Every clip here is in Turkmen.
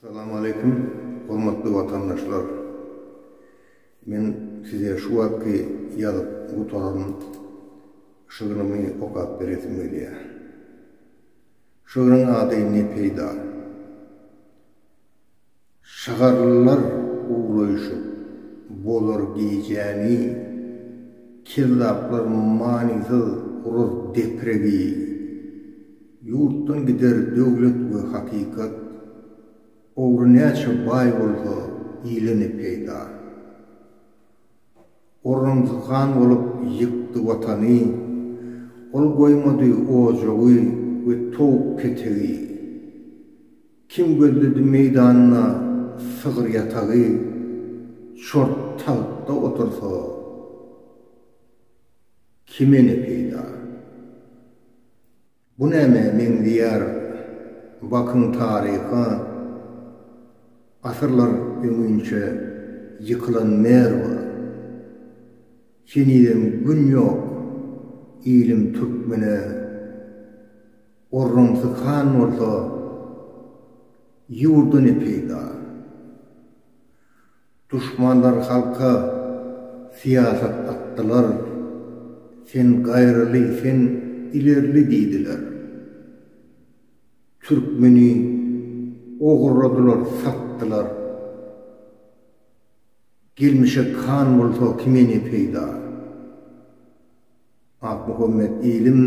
Salam aleýkum, hormatly watandaşlar! Men size şu wagtky ýazyp gutaran şygrymy okap beresim gelýär. Şygryň ady Ne peýda? Şygarlylar ugraýşyp, bozar gijäni, Kezzaplar manysyz gurar depregi. Ýurtdan gider döwlet we hakykat, Ogry näçe baý bolsa, ile ne peýda. Orramzyhan bolup ýykdy Watany, Ol goýmady ojagy we towuk-ketegi. Kim gözledi meýdanda sygyr ýatagy, Çort tagtda otursa, kime ne peýda? Bu nämä meňzeýär, bakyň taryha, Asyrlar öňinçä ýykylan Merwa. Henizem gün ýok ilim türkmene. Orunsyz han bolsa, ýurda ne peýda? Duşmanlar halka syýasat atdylar, Sen gaýraly, sen ilerli diýdiler. Türkmeni ogurladylar, satdylar. Gelmişek han bolsa, kime ne peýda? Akmuhammet ilim,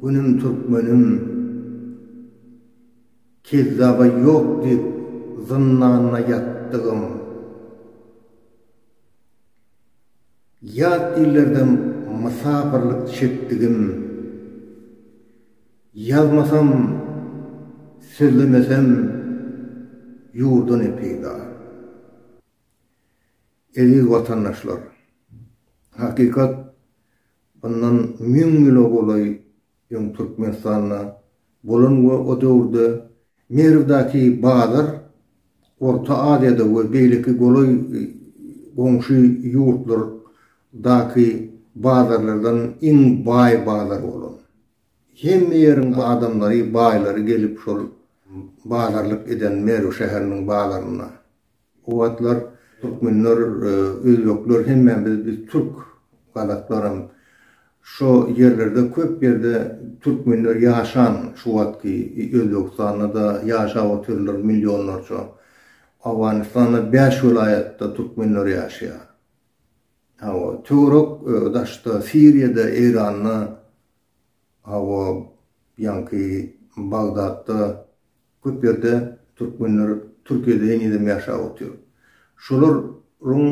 günüm türkmenim, kezzaba ýok diýip zyndanda ýatdygym, ýat illerden mysapyrlyk çekdigim, ýazmasam, sözlemesem ýurdan-ä peýda. Eziz watandaşlar! Hakykat, mundan müň ýyla golaý öň Türkmenistanda bolan we o döwürde Merwdäki bazar Orta Aziýada we beýleki golaý goňşy ýurtlardaky bazarlardan iň baý bazar bolan. Hemme ýeriň adamlary, baýlary gelip şol bazarlyk eden Merw şäheriniň bazarynda. O wagtlar türkmenler, özbekler hemmämiz biz biz türk, gazaklaram şo ýerlerde köp ýerde türkmenler ýaşan şu wagtky Özbegistanda-da ýaşap otyrlar millionlarça. Owganystanda bäş welaýatda türkmenler ýaşaýar. Hawa, töwerek daşda Siriýada, Eýranda Hawa, ýaňky Bagdatda köp ýerde türkmenler Türkiýede henizem ýaşap otyr. Şolaryň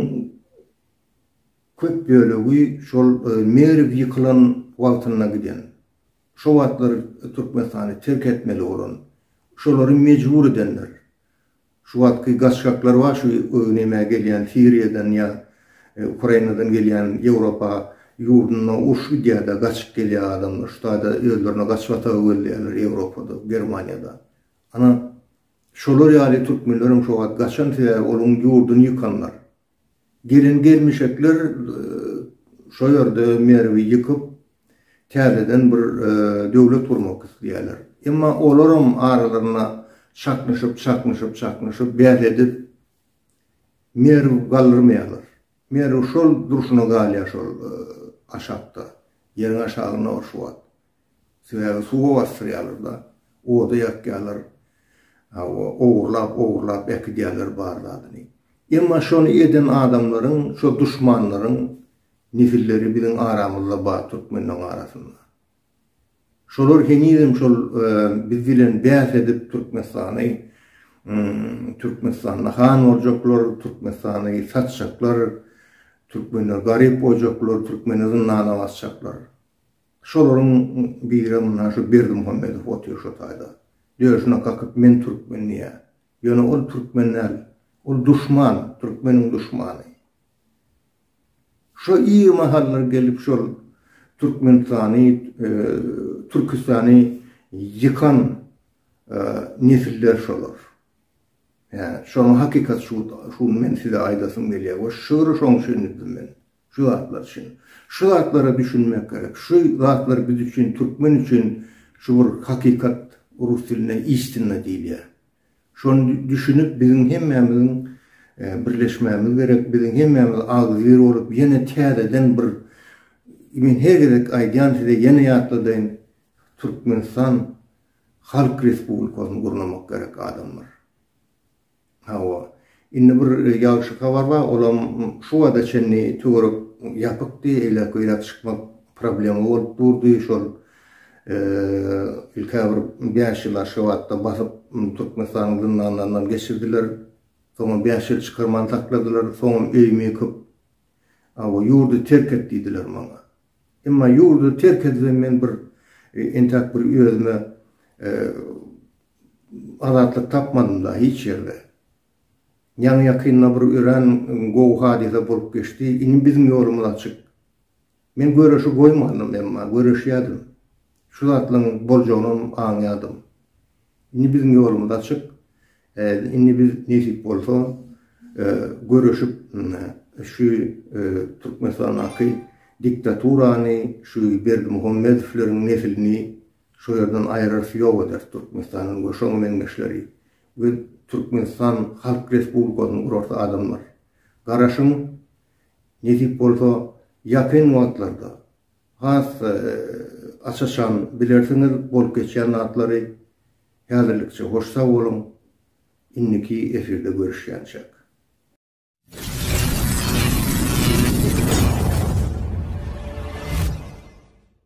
köp bölegi şol Merw ýykylan wagtynda giden. Şo wagtlar Türkmenistany terk etmeli bolan. Şolary mejbur edenler. Şu wagtky gaçgaklar bar şu öwünemä gelýän Siriýadan ýa Ukrainadan gelýän Ýewropa ýurdunda uruş gidýärde gaçyp gelýär adamlar şu taýda özlerine gaçyp ýataga gözleýärler Ýewropada Germaniýada ana şolar ýaly türkmenlerem şu wagt gaçan sebäbi olaň ýurduny ýykanlar Gelin-gelmişekler şo ýerde Merwi ýykyp, täzeden bir döwlet gurmak isleýärler. Emma olaram aralarynda çaknyşyp, çaknyşyp, çaknyşyp, bäs edip, Merwi galdyrmaýarlar. Merwi şol durşuna galýar şol aşakda, ýeriň aşagynda bar şu wagt. Sebäbi suwa basdyrýarlar-da, oda ýakýarlar, hawa, ogurlap-ogurlap äkidýärler bar zadyny. Emma şony eden adamlaryň, şo duşmanlaryň nesilleri biziň aramyzda bar türkmenleň arasynda. Şolar henizem şol biz bilen bäs edip Türkmenistany, Türkmenistanda han boljaklar, Türkmenistany satjaklar, türkmenler garyp boljaklar, türkmeni zyndana basjaklar. Şolaryň biri mundan şu Berdimuhamedow otyr şu taýda. Döşüne kakyp men türkmen diýýä. Ýöne ol türkmen däl. Ol duşman, türkmeniň duşmany. Şo ir mahallar gelip şol Türkmenistany, Türkistany ýykan nesiller şolar. Ýa şonuň hakykaty şuda. Şuny men size aýdasym gelýä we şygry şoň üçin düzdüm men. Şu zatlar üçin. Şu zatlara düşünmek gerek. Şu zatlar biz üçin, türkmen üçin şu bir hakykat, rus dilinde istina diýilýär. Şony düşünip biziň hemmämiziň birleşmämiz gerek. Biziň hemmämiz agzybir bolup ýene täzeden bir Men her gezek aýdýan size ýene ýatladaýyn. Türkmenistan Halk Respublikasyny gurnamak gerek adamlar. Hawa, indi bir ýagşy habar bar, olam şu wagta çenli töwerek ýapykdy, eýläk-beýläk çykmak problema bolup durdy, şol ilk-ä bir bäş ýyl Aşgabatda basyp, Türkmenistanyň zyndanlaryndan geçirdiler, soňam bäş ýyl çykarman sakladylar, soňam öýümi ýykyp, hawa, ýurdy terk et diýdiler maňa. Emma ýurdy terk etsem men bir entäk bir özüme Azatlyk tapmadym da hiç ýerde. Ýaňy ýakynda bir örän gowy hadysa bolup geçdi. Indi biziň ýolumyz açyk. Men göreşi goýmandym, emma göreşýärdim. Şu zatlaryň boljagynam aňýardym. Indi biziň ýolumyz açyk. Indi biz nesip bolsa göreşip şu Türkmenistandaky diktaturany, şu Berdimuhamedowlaryň nesilini Şo ýerden aýrarys ýok ederis Türkmenistanyň we şoň meňzeşleri we Türkmenistan Halk Respublikasyny gurarys adamlar. Garaşyň, nesip bolsa ýakyn wagtlarda has aç-açan bilersiňiz bolup geçýän zatlary. Häzirlikçe hoş sag boluň, indiki efirde görüşýänçäk.